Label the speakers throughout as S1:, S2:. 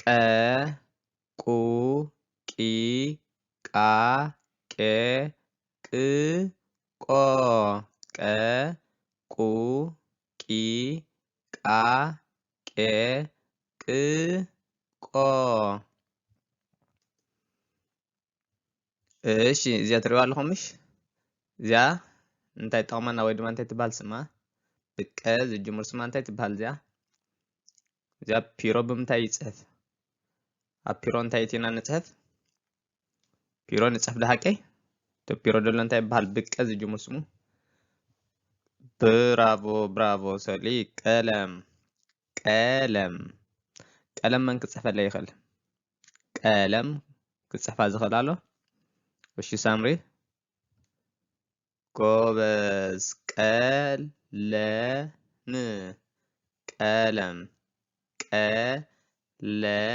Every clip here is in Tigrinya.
S1: ቀ ቁ ቂ ቃ ቄ ቅ ቆ ቀ ቁ ቂ ቃ ቄ ቅ ቆ እሺ እዚኣ ትሪእዋ ኣለኹም ምሽ እዚኣ እንታይ ጠቕመና ወይ ድማ እንታይ ትበሃል ስማ ብቀ ዝጅምር ስማ እንታይ ትበሃል እዚኣ እዚኣ ፒሮ ብምንታይ ይፅሕፍ ኣብ ፒሮ እንታይ እቲና ንፅሕፍ ፒሮ ንፅሕፍ ድሃቀይ እቲ ፒሮ ደሎ እንታይ ይበሃል ብቀ ዝጅምር ስሙ ብራቮ ብራቮ ሰሊ ቀለም ቀለም ቀለም መን ክፅሕፈለይ ይኽእል ቀለም ክጽሕፋ ዝኽእል ኣሎ እሺ ሳምሪ ጎበዝ ቀለም ቀለም ቀለም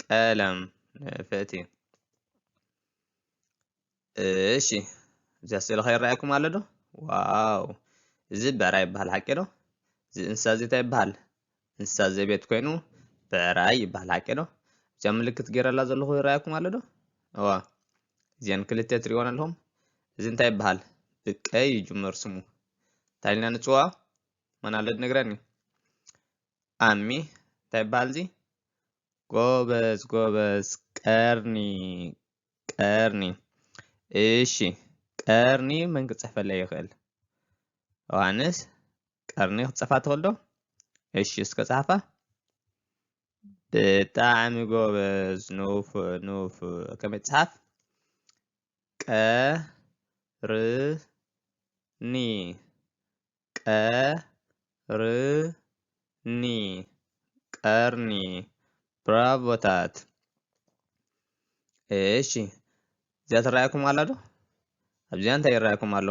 S1: ቀለም ፍእቲ እሺ እዚኣ ስእሊ ከይረኣየኩም ኣሎ ዶ ዋው እዚ ብዕራ ይበሃል ሓቂ ዶ እዚ እንስሳ እዚ እንታይ ይበሃል እንስሳ ዘቤት ኮይኑ ብዕራይ ይበሃል ሓቂ ዶ እዚኣ ምልክት ገይረላ ዘለኹ ይረኣየኩም ኣሎ ዶ እዋ እዚአን ክልተ ትሪእዎን ኣለኹም እዚ እንታይ ይበሃል ብቀይ ይጅመር ስሙ እንታይ ኢልና ንፅዋ መን ኣሎ ድነግረኒ ኣሚ እንታይ ይበሃል እዚ ጎበዝ ጎበዝ ቀርኒ ቀርኒ እሺ ቀርኒ መን ክጽሕፈለይ ይኽእል? ዮሃንስ ቀርኒ ክትጽሕፋ ትኽእል ዶ? እሺ እስከ ጻሓፋ። ብጣዕሚ ጎበዝ ኑፍ ኑፍ ከመይ ትጽሓፍ? ቀርኒ ቀርኒ ቀርኒ ብራቮታት እሺ እዚኣ ትረኣየኩም ኣላ ዶ ኣብዚኣ እንታይ ይረኣየኩም ኣሎ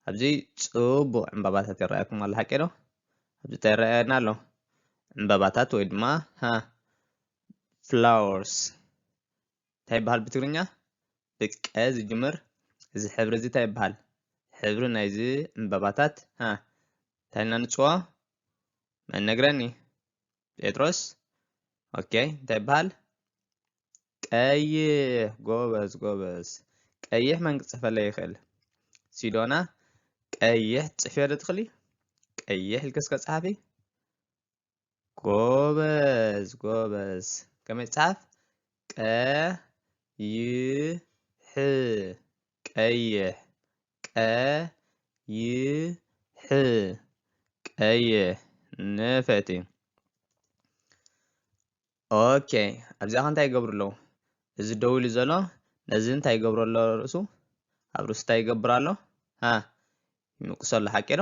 S1: ኣብዚ ፅቡቅ ዕምባባታት ይረኣየኩም ኣሎ ሓቂ ዶ ኣብዚ እንታይ ይረኣየና ኣሎ ዕምባባታት ወይ ድማ ፍላወርስ እንታይ ይበሃል ብትግርኛ ብቅ ቀ ዝጅምር እዚ ሕብሪ እዚ ታይ ይበሃል ሕብሪ ናይዚ ዕንበባታት ሀ ታይ ኢልና ንፅዎ መን ነግረኒ ጴጥሮስ ኦኬ እንታይ ይበሃል ቀይሕ ጎበዝ ጎበዝ ቀይሕ መን ክፅሕፈለይ ይኽእል ሲዶና ቀይሕ ትፅሕፊ ዶ ትኽእሊ ቀይሕ ኢልክስ ከፀሓፊ ጎበዝ ጎበዝ ከመይ ይጻፍ ቀይሕ ቀይሕ ቀይሕ ቀይሕ ንፈቲ ኦኬ ኣብዚኣ ከ እንታይ ይገብሩ ኣለዉ እዚ ደው ኢሉ ዘሎ ነዚ እንታይ ይገብሮ ኣሎ ርእሱ ኣብ ርእሱ እንታይ ይገብር ኣሎ ይምቅሶ ኣሎ ሓቂ ዶ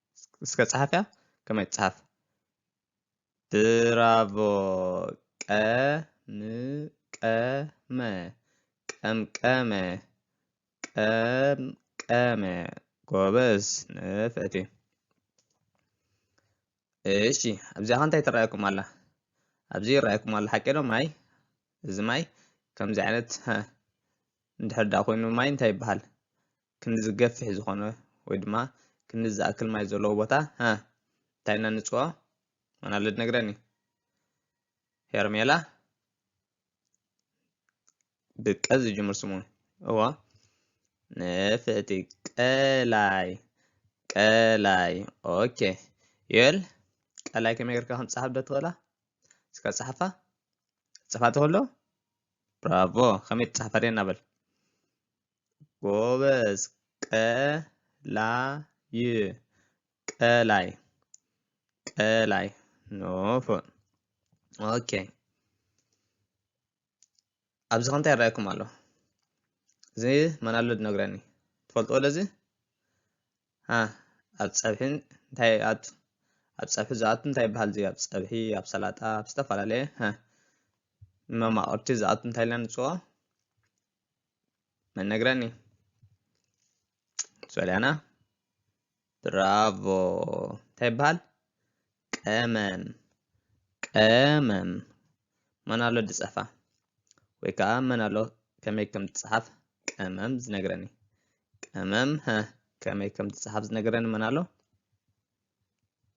S1: እስከ ጸሓፍያ ከመይ ትጽሓፍ ብራቮ ቀምቀመ ቀምቀመ ቀምቀመ ጎበዝ ንፍዕቲ እሺ ኣብዚኣ ከ እንታይ ትረኣየኩም ኣላ ኣብዚ ይረኣየኩም ኣሎ ሓቂ ዶ ማይ እዚ ማይ ከምዚ ዓይነት እንድሕር ደኣ ኮይኑ ማይ እንታይ ይበሃል ክንዲ ዝገፍሕ ዝኾነ ወይ ድማ ክንዲ ዝኣክል ማይ ዘለዎ ቦታ ሀ እንታይ ኢና ንፅውዖ? መን ኣሎ ዝነግረኒ? ሄርሜላ ብቀ ዝጅምር ስሙ እዎ ንፍዕቲ ቀላይ ቀላይ ኦኬ ዮል ቀላይ ከመይ ጌርካ ከም ትፅሓፍ ዶ ትኽእላ እስከ ፅሓፋ ፅፋ ትኽእሎ ብራቮ ከመይ ትፅሓፍ ኣርእየና በል ጎበዝ ቀላይ ቀላይ ቀላይ ኖፎን ኦኬ ኣብዚ ከንታይ ይረኣየኩም ኣሎ እዚ መን ኣሎ ዝነግረኒ ትፈልጥዎ ለዚ ኣብ ፀብሒ እንታይ ይኣቱ ኣብ ፀብሒ ዝኣቱ እንታይ ይበሃል እዚ ኣብ ፀብሒ ኣብ ሰላጣ ኣብ ዝተፈላለየ መማቕርቲ ዝኣቱ እንታይ ኢልና ንፅዎ መን ነግረኒ ሶልያና ብራቮ እንታይ ይበሃል ቀመም ቀመም መን ኣሎ ድፀፋ ወይ ከዓ መን ኣሎ ከመይ ከም ትፅሓፍ ቀመም ዝነግረኒ ቀመም ከመይ ከም ትፅሓፍ ዝነግረኒ መን ኣሎ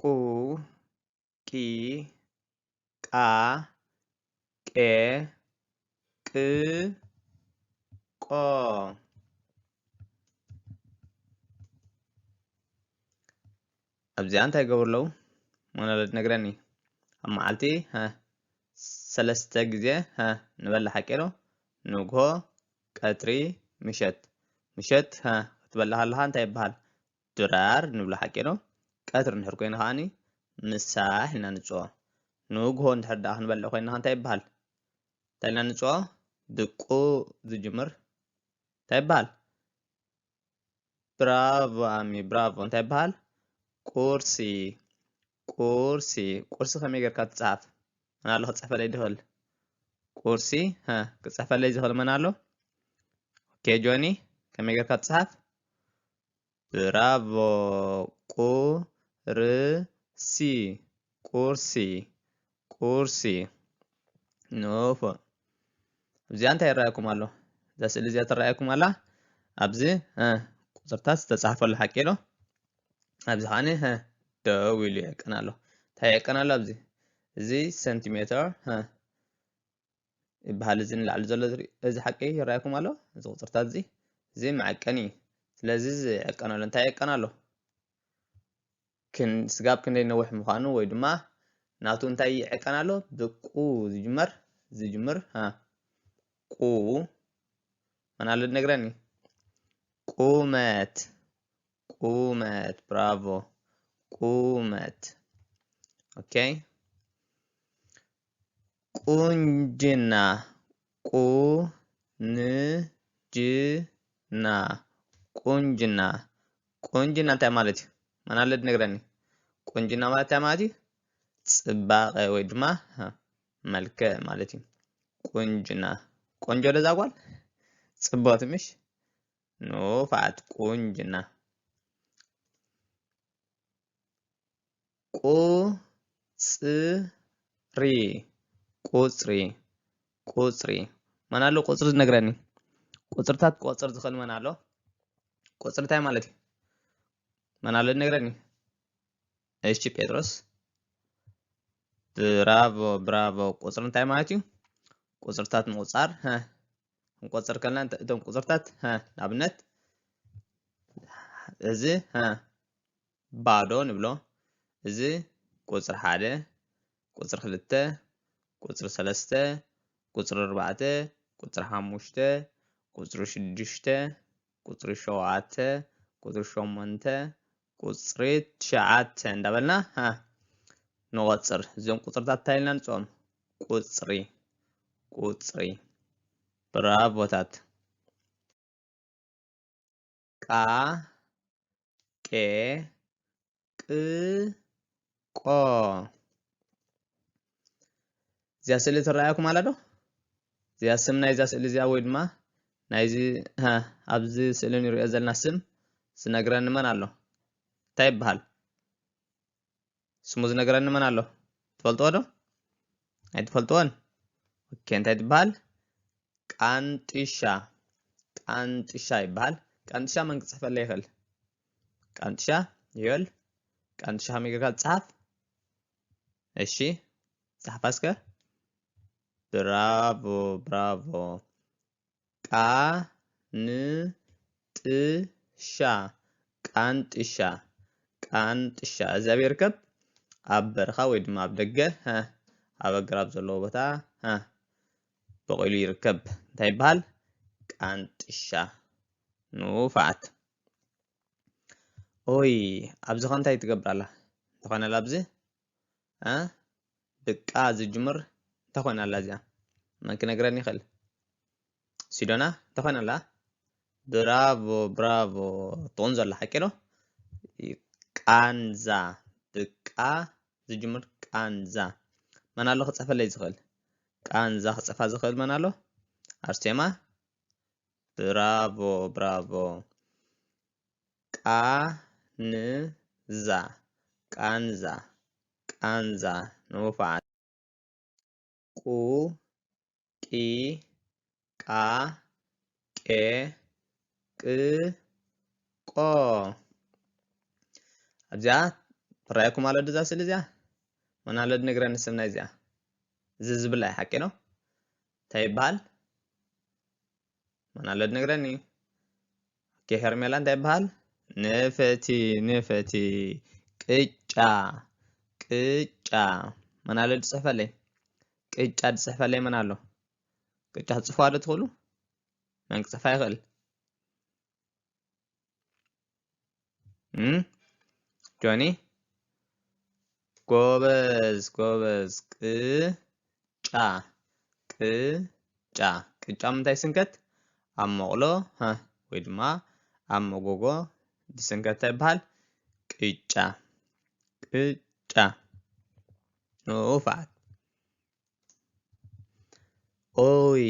S1: ቁ ቂ ቃ ቄ ቅ ቆ ኣብዚኣ እንታይ ይገብሩ ኣለዉ ሞኖሎድ ነግረኒ ኣብ መዓልቲ ሰለስተ ግዜ ንበላ ሓቂ ዶ ንግሆ ቀትሪ ምሸት ምሸት ክትበላ ከለካ እንታይ ይበሃል ድራር ንብሎ ሓቂ ዶ? ቀትሪ እንድሕር ኮይኑ ከኣኒ ምሳሕ ኢልና ንጽኦ። ንግሆ እንድሕር ደኣ ክንበልዕ ኮይና ከ እንታይ ይበሃል? እንታይ ኢልና ንጽኦ? ብቁ ዝጅምር እንታይ ይበሃል? ብራቮ ኣሚ ብራቮ እንታይ ይበሃል? ቁርሲ ቁርሲ ቁርሲ ከመይ ጌርካ ትጽሓፍ? መን ኣሎ ክጽሕፈለይ ድኽእል? ቁርሲ ሀ ክጽሕፈለይ ዝኽእል መን ኣሎ? ኦኬ ጆኒ ከመይ ጌርካ ትጽሓፍ? ብራቮ ቁርሲ ቁርሲ ቁርሲ ንፉዕ እዚኣ እንታይ ይረኣየኩም ኣሎ እዛ ስእሊ እዚኣ ትረኣየኩም ኣላ ኣብዚ ቁፅርታት ዝተፃሕፈሉ ሓቂ ዶ ኣብዚ ከዓኒ ደው ኢሉ የዕቅን ኣሎ እንታይ የዕቅን ኣሎ ኣብዚ እዚ ሰንቲሜተር ይበሃል እዚ ንላዕሊ ዘሎ ዝርኢ እዚ ሓቂ ይረኣየኩም ኣሎ እዚ ቁፅርታት እዚ እዚ መዐቀኒ እዩ ስለዚ እዚ ዕቀነሉ እንታይ ዕቀን ኣሎ ስጋብ ክንደይ ነውሕ ምዃኑ ወይ ድማ ናቱ እንታይ ይዕቀን ኣሎ ብቁ ዝጅመር ዝጅምር ቁ መን ኣሎ ነግረኒ ቁመት ቁመት ብራቮ ቁመት ኦኬ ቁንጅና ቁንጅና ቁንጅና ቁንጅና እንታይ ማለት እዩ? መን ኣሎ ዝነግረኒ? ቁንጅና ማለት እንታይ ማለት እዩ? ፅባቐ ወይ ድማ መልክዕ ማለት እዩ። ቁንጅና ቆንጆ ዶ እዛ ጓል? ፅብቕቲ ምሽ? ንፉዓት ቁንጅና ቁጽሪ ቁጽሪ ቁጽሪ መን ኣሎ ቁጽሪ ዝነግረኒ ቁጽርታት ክቆጽር ዝኽእል መን ኣሎ ቁጽሪ እንታይ ማለት እዩ መን ኣሎ ዝነግረኒ እሺ ጴጥሮስ ብራቮ ብራቮ ቁጽሪ እንታይ ማለት እዩ ቁጽርታት ምቁጻር ክንቆጽር ከለና እቶም ቁጽርታት ንኣብነት እዚ ባዶ ንብሎ እዚ ቁጽሪ ሓደ ቁጽሪ ክልተ ቁጽሪ ሰለስተ ቁጽሪ ኣርባዕተ ቁጽሪ ሓሙሽተ ቁጽሪ ሽዱሽተ ቁጽሪ ሸውዓተ ቁጽሪ ሸሞንተ ቁጽሪ ትሽዓተ እንዳበልና ሃ ንቆጽር እዞም ቁጽርታት እንታይ ኢልና ንጽኦም ቁጽሪ ቁጽሪ ብራቮታት ቃ ቄ ቅ ቆ እዚኣ ስእሊ ትረኣየኩም ኣላ ዶ እዚኣ ስም ናይዛ ስእሊ እዚኣ ወይ ድማ ናይዚ ኣብዚ ስእሊ ንሪኦ ዘለና ስም ዝነግረኒ መን ኣሎ እንታይ ይበሃል ስሙ ዝነገረኒ መን ኣሎ ትፈልጥዎ ዶ ኣይትፈልጥዎን ኦኬ እንታይ ትበሃል ቃንጥሻ ቃንጥሻ ይበሃል ቃንጥሻ መን ክፅሕፈለ ይኽእል ቃንጥሻ ይበል ቃንጥሻ ከመይ ጌርካ ዝፀሓፍ እሺ ፀሓፋ እስከ ብራቮ ብራቮ ቃንጥሻ ቃንጥሻ ቃንጥሻ እዛ ቤርከብ ኣብ በረኻ ወይ ድማ ኣብ ደገ ኣብ ኣግራብ ዘለዎ ቦታ በቂሉ ይርከብ እንታይ ይበሃል ቃንጥሻ ንፋዓት ኦይ ኣብዚ ከ እንታይ ትገብር ኣላ እንተኾነ ኣብዚ እ ድቃ ዝጅምር እንታይ ኮይና ኣላ እዚኣ መን ክነግረኒ ይኽእል ሲዶና እንታይ ኮይና ኣላ ብራቮ ብራቮ ትቑንዞ ኣላ ሓቂ ዶ ቃንዛ ብቃ ዝጅምር ቃንዛ መን ኣሎ ክፅሕፈለይ ዝኽእል ቃንዛ ክፅሕፋ ዝኽእል መን ኣሎ ኣርሴማ ብራቮ ብራቮ ቃንዛ ቃንዛ ቃንዛ ንውፉዓት ቁ ቂ ቃ ቄ ቅ ቆ ኣብዚኣ ትረኣየኩም ኣሎ ድዛ ስእሊ እዚኣ ወና ኣሎ ድነግረኒ ስም ናይ እዚኣ እዚ ዝብላ ሓቂ ነው እንታይ ይበሃል ማን ኣሎ ድነግረኒ ኦኬ ሄርሜላ እንታይ ይበሃል ንፈቲ ንፈቲ ቅጫ ቅጫ ማን ኣሎ ድፅሕፈለይ ቅጫ ድፅሕፈለይ መን ኣሎ ቅጫ ትፅሕፉዋ ዶ ትኽእሉ መን ክፅሕፋ ይኽእል ጆኒ ጎበዝ ጎበዝ ቅጫ ቅጫ ቅጫ ምንታይ ስንከት ኣብ መቕሎ ወይ ድማ ኣብ መጎጎ ዝስንከት እንታይ ይበሃል ቅጫ ቅጫ ንኡፋት ኦይ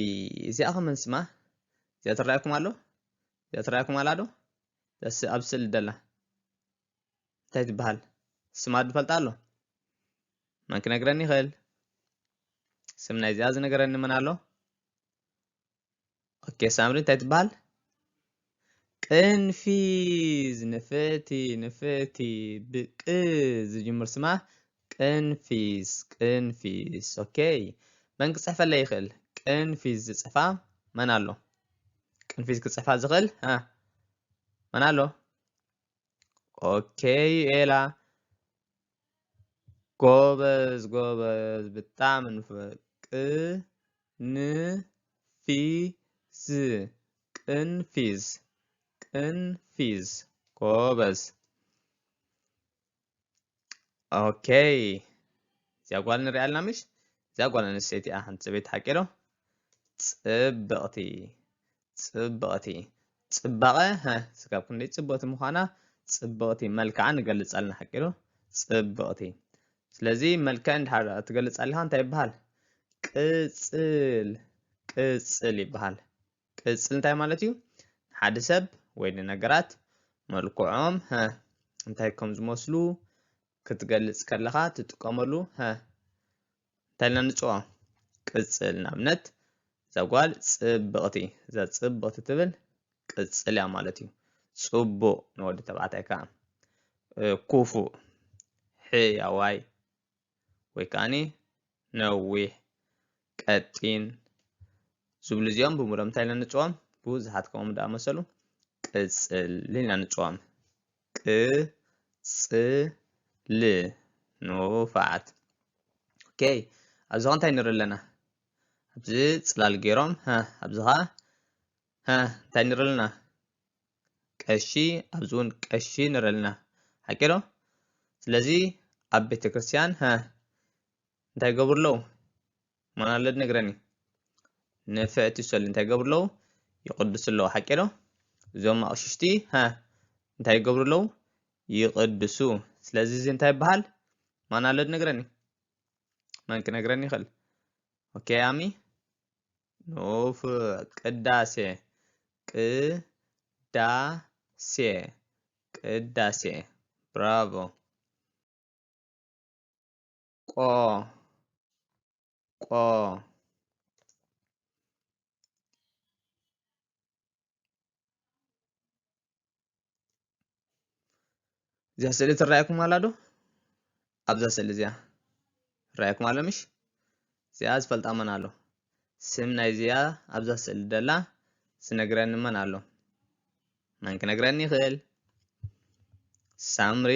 S1: እዚኣ ከመን ስማ እዚኣ ትረኣየኩም ኣሎ እዚኣ ትረኣየኩም ኣላ ዶ እዛ ኣብ ስእሊ ደላ እንታይ ትበሃል ስማ ዝፈልጣ ኣሎ መን ክነግረኒ ይኽእል ስም ናይዚኣ ዝነገረኒ መን ኣሎ ኦኬ ሳምሪ እንታይ ትበሃል ቅንፊዝ ንፍእቲ ንፍእቲ ብቅ ዝጅምር ስማ ቅንፊዝ ቅንፊዝ ኦኬ መን ክፅሕፈለይ ይኽእል ቅንፊዝ ዝፅፋ መን ኣሎ ቅንፊዝ ክፅሕፋ ዝኽእል መን ኣሎ ኦኬ ኤላ ጎበዝ ጎበዝ ብጣዕሚ ንፉዕ ቅንፊዝ ቅንፊዝ ቅንፊዝ ጎበዝ ኦኬ እዚኣ ጓል ንሪኣ ኣለና ምሽ እዚኣ ጓል ኣንስተይቲ እያ ሓንቲ ፅበይቲ ሓቂ ዶ ፅብቕቲ ጽብቕቲ ጽባቐ ሃ ስጋብ ክንደይ ጽብቕቲ ምዃና ጽብቕቲ መልክዓ ንገልጻልና ሓቂሉ ጽብቕቲ ስለዚ መልክዕ እንድሓር ትገልጽ ኣለኻ እንታይ ይበሃል ቅጽል ቅጽል ይበሃል ቅጽል እንታይ ማለት እዩ ሓደ ሰብ ወይ ንነገራት መልክዖም ሃ እንታይ ከም ዝመስሉ ክትገልጽ ከለኻ ትጥቀመሉ ሃ እንታይ ኢልና ንፅውዖ ቅፅል ንኣብነት እዛ ጓል ፅብቕቲ እዛ ፅብቕቲ ትብል ቅፅል እያ ማለት እዩ ፅቡቕ ንወዲ ተባዕታይ ከዓ ኩፉእ ሕያዋይ ወይ ከዓኒ ነዊሕ ቀጢን ዝብሉ እዚኦም ብምሎም እንታይ ኢልና ንፅዎም ብዙሓት ከምኦም ዳኣመሰሉ ቅፅል ኢልና ንፅዎም ቅጽል ንፉዓት ok ኣብዚ ከ እንታይ ንርኢ ኣለና ኣብዚ ጽላል ገይሮም ሀ ኣብዚ ከ ሀ እንታይ ንርኢ ኣለና ቀሺ ኣብዚ እውን ቀሺ ንርኢ ኣለና ሓቂ ዶ ስለዚ ኣብ ቤተክርስትያን ሀ እንታይ ይገብሩ ኣለዉ ማን ኣሎ ድነግረኒ ንፍዕቲ ሰሉ እንታይ ይገብሩ ኣለዉ ይቕድሱ ኣለዉ ሓቂ ዶ እዞም ኣቕሽሽቲ ሃ እንታይ ይገብሩ ኣለዉ ይቕድሱ ስለዚ እዚ እንታይ ይበሃል ማን ኣሎ ድነግረኒ መን ክነግረኒ ይኽእል ኦኬ ኣሚ ኖፍ ቅዳሴ ቅዳሴ ቅዳሴ ብራቮ ቆ ቆ እዚኣ ስእሊ ትረኣየኩም ኣላ ዶ ኣብዛ ስእሊ እዚኣ ትረኣየኩም ኣሎ ምሽ እዚኣ ዝፈልጣ መን ኣሎ ስም ናይ እዚኣ ኣብዛ ስእሊ ደላ ዝነግረኒ መን ኣሎ መን ክነግረኒ ይኽእል ሳምሪ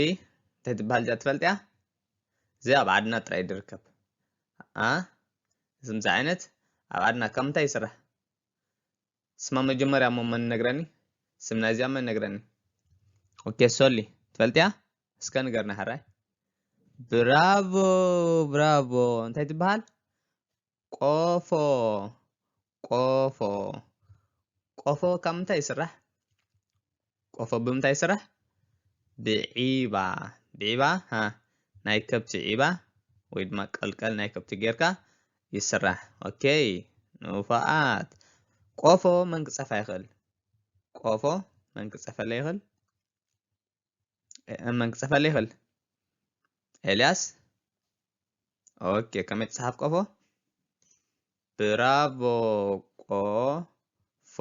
S1: እንታይ ትበሃል እዚኣ ትፈልጥያ እዚ ኣብ ዓድና ጥራይ ድርከብ ኣ ዝምዚ ዓይነት ኣብ ዓድና ካብ ምንታይ ይስራሕ ስማ መጀመርያ እሞ መን ነግረኒ ስም ናይዚኣ መን ነግረኒ ኦኬ ሶሊ ትፈልጥያ እስከ ንገርና ሕራይ ብራቮ ብራቮ እንታይ ትበሃል ቆፎ ቆፎ ቆፎ ካብ ምንታይ ይስራሕ? ቆፎ ብምንታይ ይስራሕ? ብዒባ ብዒባ ሃ ናይ ከብቲ ዒባ ወይ ድማ ቀልቀል ናይ ከብቲ ጌርካ ይስራሕ። ኦኬ ንፉዓት። ቆፎ መን ክጸፋ ይኽእል? ቆፎ መን ክጸፈለ ይኽእል? እመን ክጽሕፈለ ይኽእል ኤልያስ ኦኬ ከመይ ትጽሓፍ ቆፎ ብራቮ ቆፎ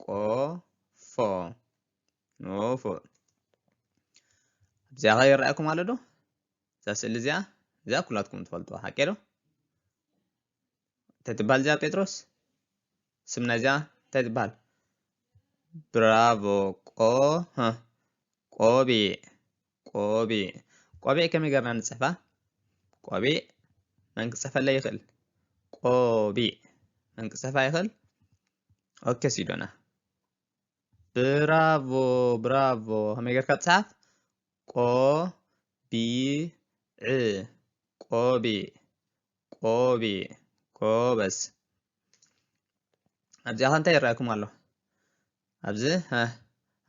S1: ቆፎ ኖፎ እዚኣ ኸ ይረኣየኩም ኣሎ ዶ እዛ ስእሊ እዚኣ እዚኣ ኩላትኩም ትፈልጥዋ ሓቂ ዶ እንታይ ትበሃል እዚኣ ጴጥሮስ ስም ናይዚኣ እንታይ ትበሃል ብራቮ ቆ ቆቢዕ ቆቢዕ ቆቢዕ ከመይ ገርና ንፅሕፋ ቆቢዕ መን ክፅሕፈለ ይኽእል ቆቢዕ መን ክፅሕፋ ይኽእል ኦኬ ሲዶና ብራቮ ብራቮ ከመይ ገርካ ትፅሓፍ ቆቢዕ ቆቢዕ ቆቢዕ ጎበዝ ኣብዚኣ ከ እንታይ ይረኣኩም ኣሎ ኣብዚ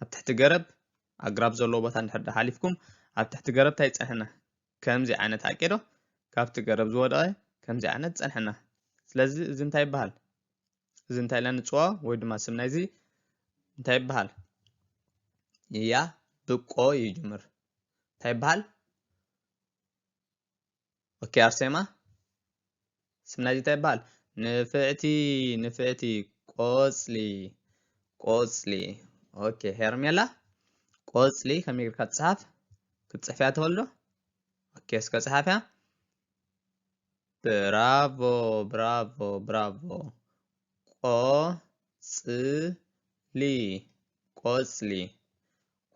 S1: ኣብ ትሕቲ ገረብ ኣግራብ ዘለዎ ቦታ እንድሕር ሓሊፍኩም ኣብ ትሕቲ ገረብ እንታይ ይፀንሐና ከምዚ ዓይነት ሓቂ ዶ ካብቲ ገረብ ዝወደቐ ከምዚ ዓይነት ፀንሐና ስለዚ እዚ እንታይ ይበሃል እዚ እንታይ ኢልና ንፅዋ ወይ ድማ ስም ናይዚ እንታይ ይበሃል እያ ብቆ ይጅምር እንታይ ይበሃል ኦኬ ኣርሴማ ስም ናይዚ እንታይ ይበሃል ንፍዕቲ ንፍዕቲ ቆፅሊ ቆፅሊ ኦኬ ሄርሜላ ቆፅሊ ከመይ ጌርካ ትፅሓፍ ክትፅሕፍያ ተወልዶ ኦኬ እስከ ፅሓፍያ ብራቮ ብራቮ ብራቮ ቆፅሊ ቆፅሊ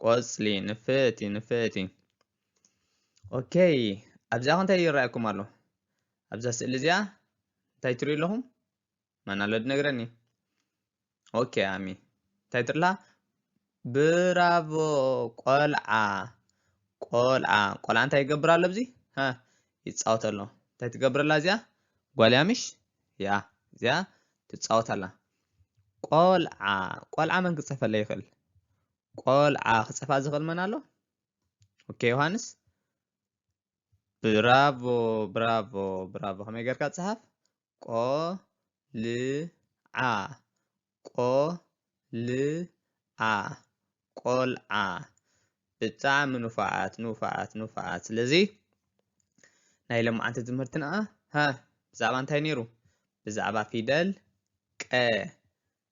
S1: ቆጽሊ ንፍእቲ ንፍእቲ ኦኬ ኣብዚኣ እንታይ ይረኣየኩም ኣሎ ኣብዛ ስእሊ እዚኣ እንታይ ትሪኡ ኣለኹም መን ኣሎ ድነግረኒ ኦኬ ኣሚ እንታይ ትርላ ብራቮ ቆልዓ ቆልዓ ቆልዓ እንታይ ይገብር ኣሎ ኣብዚ ይፃወት ኣሎ እንታይ ትገብረላ እዚኣ ጓልያ ምሽ ያ እዚኣ ትፃወት ኣላ ቆልዓ ቆልዓ መን ክፅሕፈለይ ይኽእል? ቆልዓ ክፅሕፋ ዝኽእል መን ኣሎ? ኦኬ ዮሃንስ ብራቮ ብራቮ ብራቮ ከመይ ጌርካ ፅሓፍ ቆልዓ ቆልዓ ቆልዓ ብጣዕሚ ንፉዓት ንፉዓት ንፉዓት ስለዚ ናይ ሎማዓንቲ ትምህርትና ሃ ብዛዕባ እንታይ ነይሩ ብዛዕባ ፊደል ቀ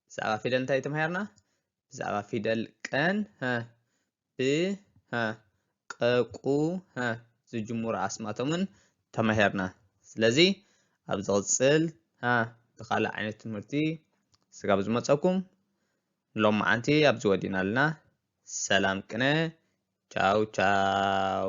S1: ብዛዕባ ፊደል እንታይ ተማሂርና ብዛዕባ ፊደል ቀን ሃ ብ ሃ ቀቁ ሃ ዝጅምሩ ኣስማቶምን ተማሂርና ስለዚ ኣብ ዝቕፅል ሃ ብካልእ ዓይነት ትምህርቲ ስጋብ ዝመፀኩም ንሎማዓንቲ ኣብዚ ወዲናልና ሰላም ቅነ ቻው ቻው።